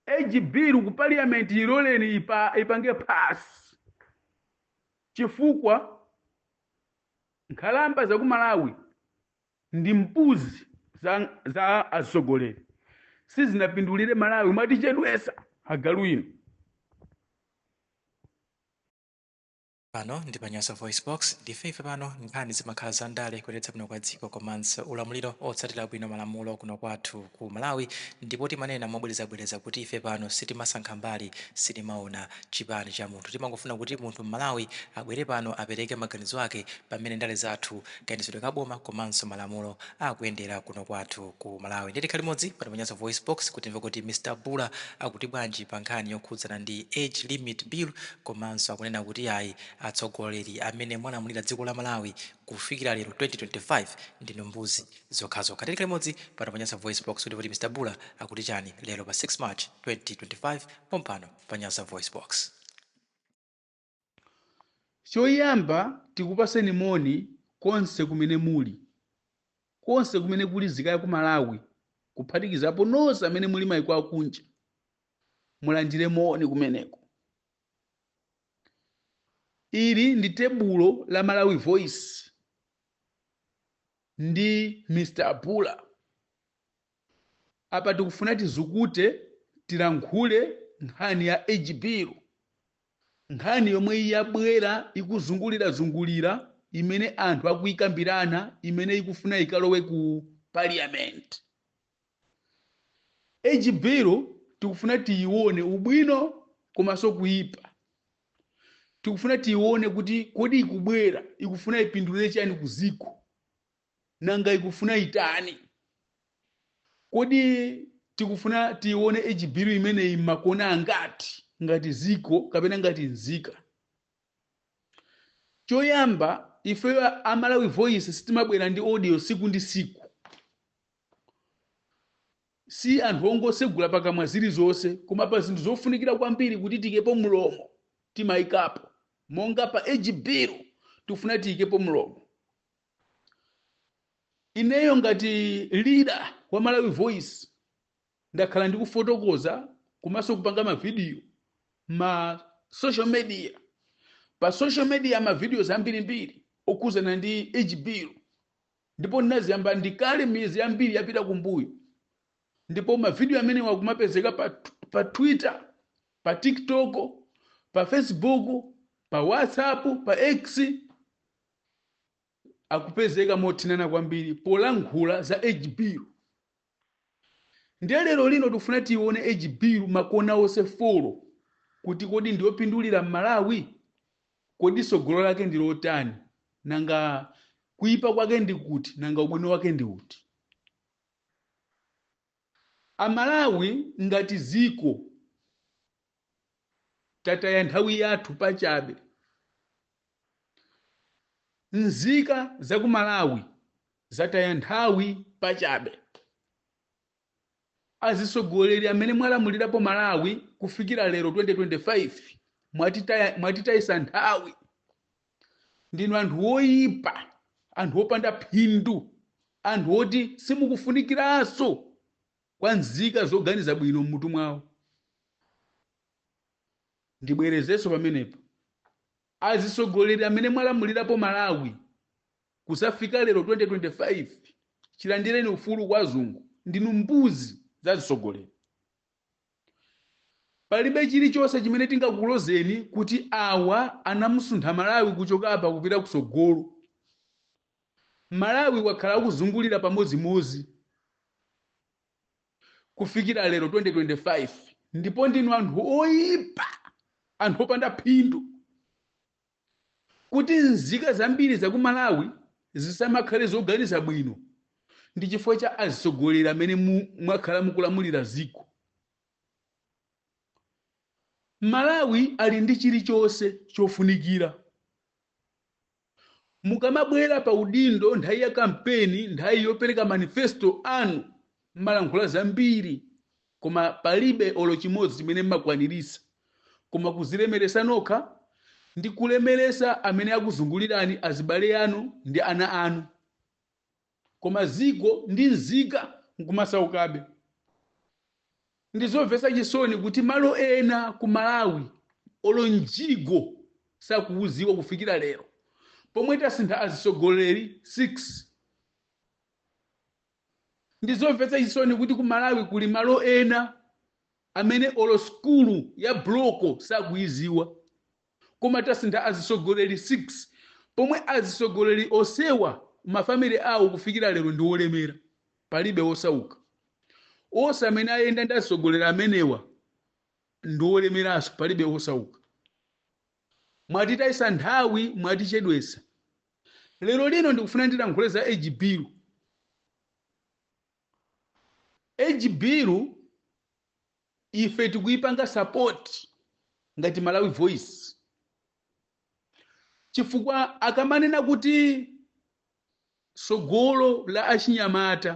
Age bill ku parliament iloleni ipa, ipange pass chifukwa nkhalamba za ku Malawi ndi mbuzi za, za atsogoleri sizinapindulire Malawi mwatichedwesa agalu inu Pano ndi pa Nyasa VoiceBox, ndife ife pano nkhani zimakhala za ndale, kuyendetsa bwino kwa dziko komanso ulamuliro otsatira bwino malamulo kuno kwathu ku Malawi ndipo timanena mobwerezabwereza kuti ife pano sitimasankha mbali, sitimaona chipani cha munthu timangofuna kuti munthu Mmalawi abwere pano apereke maganizo ake pa mmene ndale zathu kayendetsedwe ka boma komanso malamulo akuyendera kuno kwathu ku Malawi. Ndiye tikhale limodzi pano pa Nyasa VoiceBox kuti timve kuti Mr Bula akuti bwanji pa nkhani yokhudzana ndi Age Limit Bill komanso akunena kuti yayi atsogoleri amene mwalamulira dziko la Malawi kufikira lero 2025 ndinu mbuzi zokhazokha. Tiye tikhale limodzi pano pa Nyasa VoiceBox kuti timve kuti Mr Bula akuti chani lero pa 6 March 2025 pompano pa Nyasa VoiceBox. Choyamba tikupaseni moni konse kumene muli. Konse kumene kuli nzika yaku Malawi kuphatikizapo nonse amene muli maiko akunja mulandire moni kumeneko. Ili ndi tebulo la Malawi Voice ndi Mr Bula. Apa tikufuna tizukute tilankhule nkhani ya Age Bill, nkhani yomwe yabwera ikuzungulira zungulira imene anthu akuikambirana imene ikufuna ikalowe ku Parliament. Age Bill tikufuna tiyione ubwino komanso kuipa. Tikufuna tiyione kuti kodi ikubwera ikufuna ipindulire chani ku dziko. Nanga ikufuna itani? Kodi tikufuna tiione age bill imeneyi m'makona angati ngati dziko kapena ngati nzika? Choyamba, ifeyo a- a Malawi Voice sitimabwera ndi audio tsiku ndi tsiku. Si anthu ongotsegula pakamwa zilizonse, koma pa zinthu zofunikira kwambiri kuti tiikepo mlomo, timaikapo. Monga pa age bill, tikufuna tiikepo mlomo. Ineyo ngati leader wa Malawi Voice ndakhala ndikufotokoza komanso kupanga ma video ma social media. Pa social media ma videos ambirimbiri okhudzana ndi age bill ndipo ndinaziyamba ndikale miyezi yambiri yapita kumbuyo. Ndipo ma video amenewa akumapezeka pa, pa Twitter, pa TikTok, pa Facebook, pa WhatsApp, pa X. akupezeka mothinana kwambiri polankhula za age bill ndiye lero lino tikufuna tiyione age bill makona onse folo kuti kodi ndiyopindulira m'malawi kodi tsogolo lake ndi lotani nanga kuipa kwake ndi kuti, nanga ubwino wake ndi uti amalawi ngati dziko tataya nthawi yathu pachabe. Nzika za ku Malawi zataya nthawi pachabe. Azitsogoleri amene mwalamulirapo Malawi kufikira lero 2025 mwatitayisa nthawi. Ndinu anthu woyipa, anthu opanda phindu, anthu oti simukufunikiranso kwa nzika zoganiza bwino m'mutu mwawo. Ndibwerezenso pamenepo, azitsogoleri amene mwalamulirapo Malawi kuzafika lero 2025 chilandireni ufulu kwa azungu ndinu mbuzi za azitsogoleri. Palibe chilichonse chimene tingakulozeni kuti awa anamusuntha Malawi kuchoka apa kupita kutsogolo. Malawi wakhala akuzungulira pamodzimodzi kufikira lero 2025 ndipo ndinu anthu oyipa anthu opanda phindu kuti nzika zambiri za ku Malawi zisamakhale zoganiza bwino ndi chifukwa cha azitsogoleri amene mwakhala mukulamulira dziko. Malawi ali ndi chilichonse chofunikira. Mukamabwera pa udindo nthawi ya kampeni, nthawi yopereka manifesto anu, mmalankhula zambiri koma palibe olo chimodzi chimene mmakwaniritsa koma kuzilemeretsa nokha ndi kulemeretsa amene akuzungulirani azibale anu ndi ana anu. koma dziko ndi nzika nkumasaukabe. Ndizomvetsa chisoni kuti malo ena ku Malawi olo mjigo sakuwudziwa kufikira lero pomwe tasintha azitsogoleri 6. Ndizomvetsa chisoni kuti ku Malawi kuli malo ena amene olo sukulu ya buloko sakuyidziwa. Koma tasintha azitsogoleri 6 pomwe azitsogoleri onsewa ma family awo kufikira lero ndi olemera palibe osauka. Onse amene ayenda ndi azitsogoleri amenewa ndi olemeranso palibe osauka. Mwatitayisa nthawi mwatichedwesa. Lero lino ndikufuna ndilankhule za age bill. Age bill Ife tikuipanga support ngati Malawi Voice chifukwa akamanena kuti tsogolo la achinyamata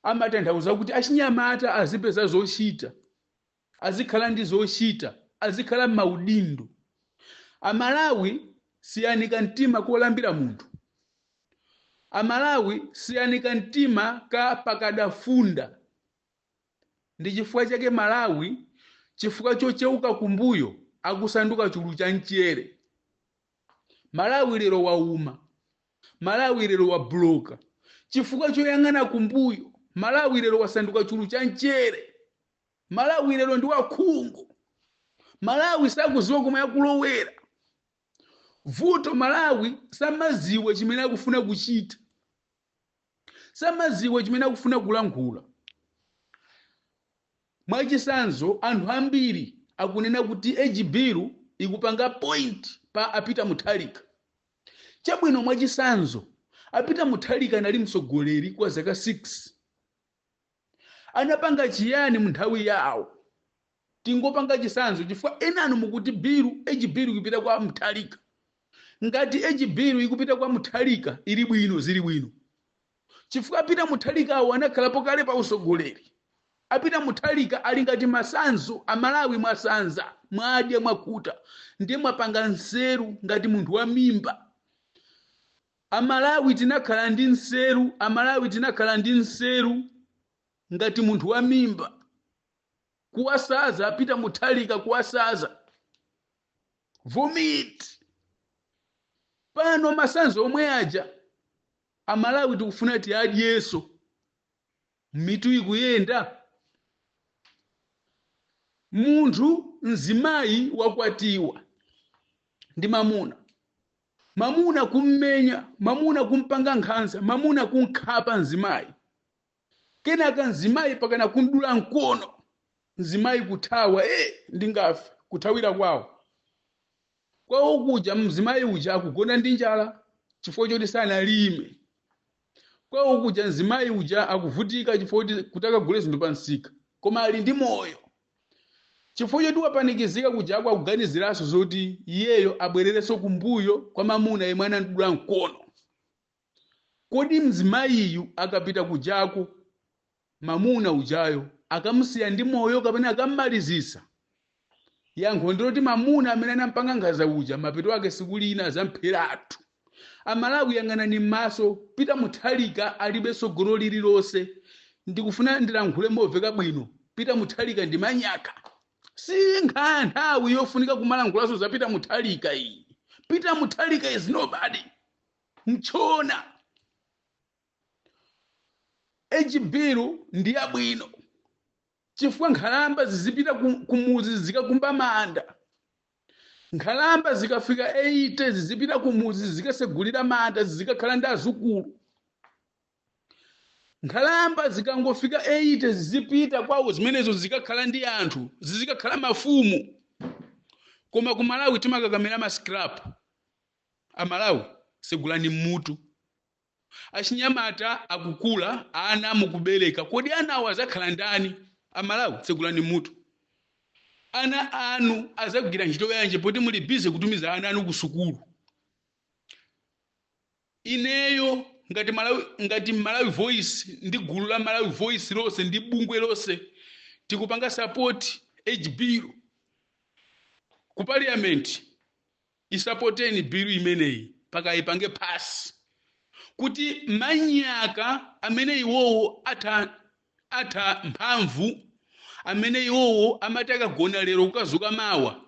amatanthauza kuti achinyamata azipeza zochita, azikhala ndi zochita, azikhala m'maudindo. Amalawi siyani kamtima kolambira munthu. Amalawi siyani kamtima ka pakadafunda. Ndichifukwa chake Malawi chifukwa chocheuka kumbuyo akusanduka chulu cha mchere. Malawi lero wauma. Malawi lero wabuloka chifukwa choyang'ana kumbuyo. Malawi lero wasanduka chulu cha mchere. Malawi lero ndi wakhungu. Malawi sakuziwa komwe akulowera. Vuto Malawi samaziwa chimene akufuna kuchita. samaziwa chimene akufuna kulankhula. Mwachisanzo, anthu ambiri akunena kuti age bill ikupanga point pa a Peter Mutharika. Chabwino mwachisanzo, a Peter Mutharika anali mtsogoleri kwa zaka 6. anapanga chiyani munthawi yawo? Tingopanga chisanzo chifukwa enanu mukuti bill age bill ikupita kwa Muthalika. Ngati age bill ikupita kwa Muthalika ili bwino zili bwino chifukwa a Peter Muthalikawo anakhalapo kale pa usogoleri. A Peter Muthalika ali ngati masanzo Amalawi mwasanza mwadya mwakhuta ndiye mwapanga nseru ngati munthu wa mimba. Amalawi tinakhala ndi nseru Amalawi tinakhala ndi nseru ngati munthu wa mimba kuwasaza a Peter Muthalika kuwasaza vomit pano masanzo omwe aja Amalawi tikufuna tiadyeso mitu ikuyenda munthu mzimayi wakwatiwa ndi mamuna mamuna kummenya, mamuna kumpanga nkhanza, mamuna kumkhapa mzimayi, kenaka mzimayi pakana kumdula mkono, mzimayi kuthawa ee ndingafe, kuthawira kwawo. Kwawo kuja mzimayi uja akugona ndi njala chifukwa choti sanalime. kwawo kuja mzimayi uja akuvutika chifukwa choti kuti akagule zinthu pa msika koma ali ndi moyo chifukwa choti wapanikizika kujako akuganiziranso zoti iyeyo abwererenso kumbuyo kwa mamuna yemwe anamdula mkono kodi mzimayiyu akapita kujako mamuna ujayo akamusiya ndi moyo kapena akammalizitsa yankho ndiloti mamuna amene anampanga nkhanza uja mapeto ake tsiku lina azampheratu amalawi kuyang'anani m'maso pita muthalika alibe tsogolo lililonse ndikufuna ndilankhule moveka bwino pita muthalika ndi manyaka si nkhani ya nthawi yofunika kumalankhulanso za pita muthalika iyi pita muthalika is nobody mchona age bill ndi yabwino chifukwa nkhalamba zizipita kumuzi zikakumba manda nkhalamba zikafika 80 zizipita kumuzi zikasegulira manda zikakhala ndi azukulu nkhalamba zikangofika 80 zizipita kwawo zimenezo zikakhala ndi anthu zizikakhala mafumu koma ku malawi timakakamira ma scrap amalawi segulani mutu Achinyamata akukula, ana mukubereka, kodi anawo azakhala ndani? A Malawi tsegulani mutu. Ana anu azagwira ntchito yanji poti muli busy kutumiza ana anu kusukulu? Ineyo ngati Malawi Voice ndi gulu la Malawi Voice lonse ndi bungwe lonse tikupanga support age bill ku parliament. Isapoteni bill imeneyi mpaka aipange pass kuti manyaka amene iwowo atha mphamvu amene iwowo amati akagona lero kukazuka mawa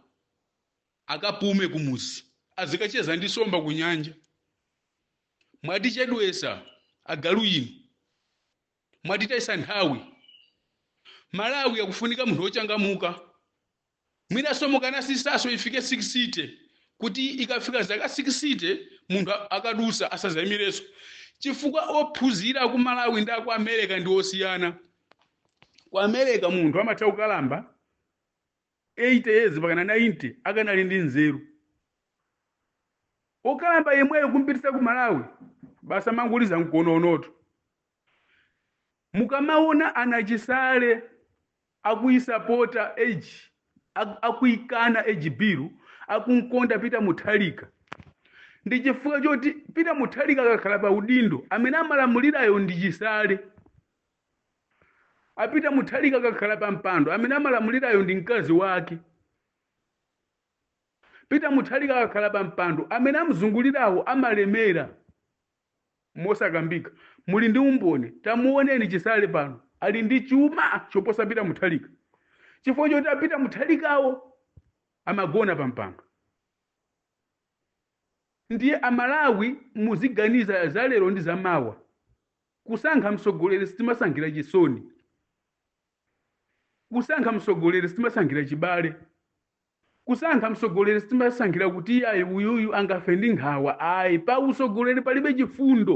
akapume kumuzi azikacheza ndi nsomba kunyanja mwatichedwesa agalu inu mwatitayisa nthawi malawi akufunika munthu wochangamuka Mwinanso mukanasisaso ifike 60 kuti ikafika zaka 60 munthu akadutsa asazaimireso chifukwa ophunzira ku Malawi ndi aku America ndi osiyana. Ku America munthu amatha kukalamba 80 years mpakana 90 akanali ndi nzeru. Okalamba yemweyo kumpititsa ku Malawi basi amangoliza mkononotu. Mukamaona a nachisale akuisapota age akuikana age bill akunkonda Peter Muthalika ndi chifukwa choti Peter Muthalika akakhala pa udindo amene amalamulirayo ndi chisale. A Peter Muthalika akakhala pa mpando amene amalamulirayo ndi mkazi wake. Peter Muthalika akakhala pa mpando amene amzungulirawo amalemera. mosakambika muli ndi umboni tamuoneni chisale pano ali ndi chuma choposa peter mutharika chifukwa choti a peter mutharikawo amagona pa mpando ndiye amalawi muziganiza za lero ndi za mawa kusankha mtsogoleri sitimasankhira chisoni kusankha mtsogoleri sitimasankhira chibale Kusankha mtsogoleri sitimasankhira kuti iyayi uyuyu angafe ndi nkhawa ayi pa utsogoleri palibe chifundo.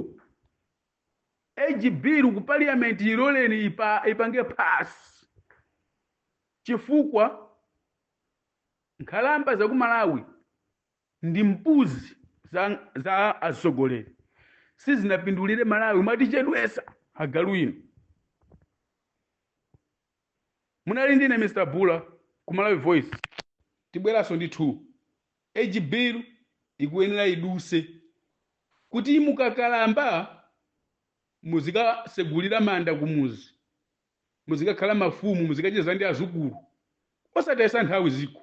Age bill ku parliament iloleni ipange pass chifukwa nkhalamba za ku Malawi ndi mbuzi za atsogoleri sizinapindulire Malawi mwatichedwetsa agalu inu. Munali ndine Mr Bhula ku Malawi Voice tibweraso ndi 2 age bill ikuyenera iduse kuti mukakalamba muzikasegulira manda kumuzi muzikakhala mafumu muzikacheza ndi azukulu osatayisa nthawi ziko.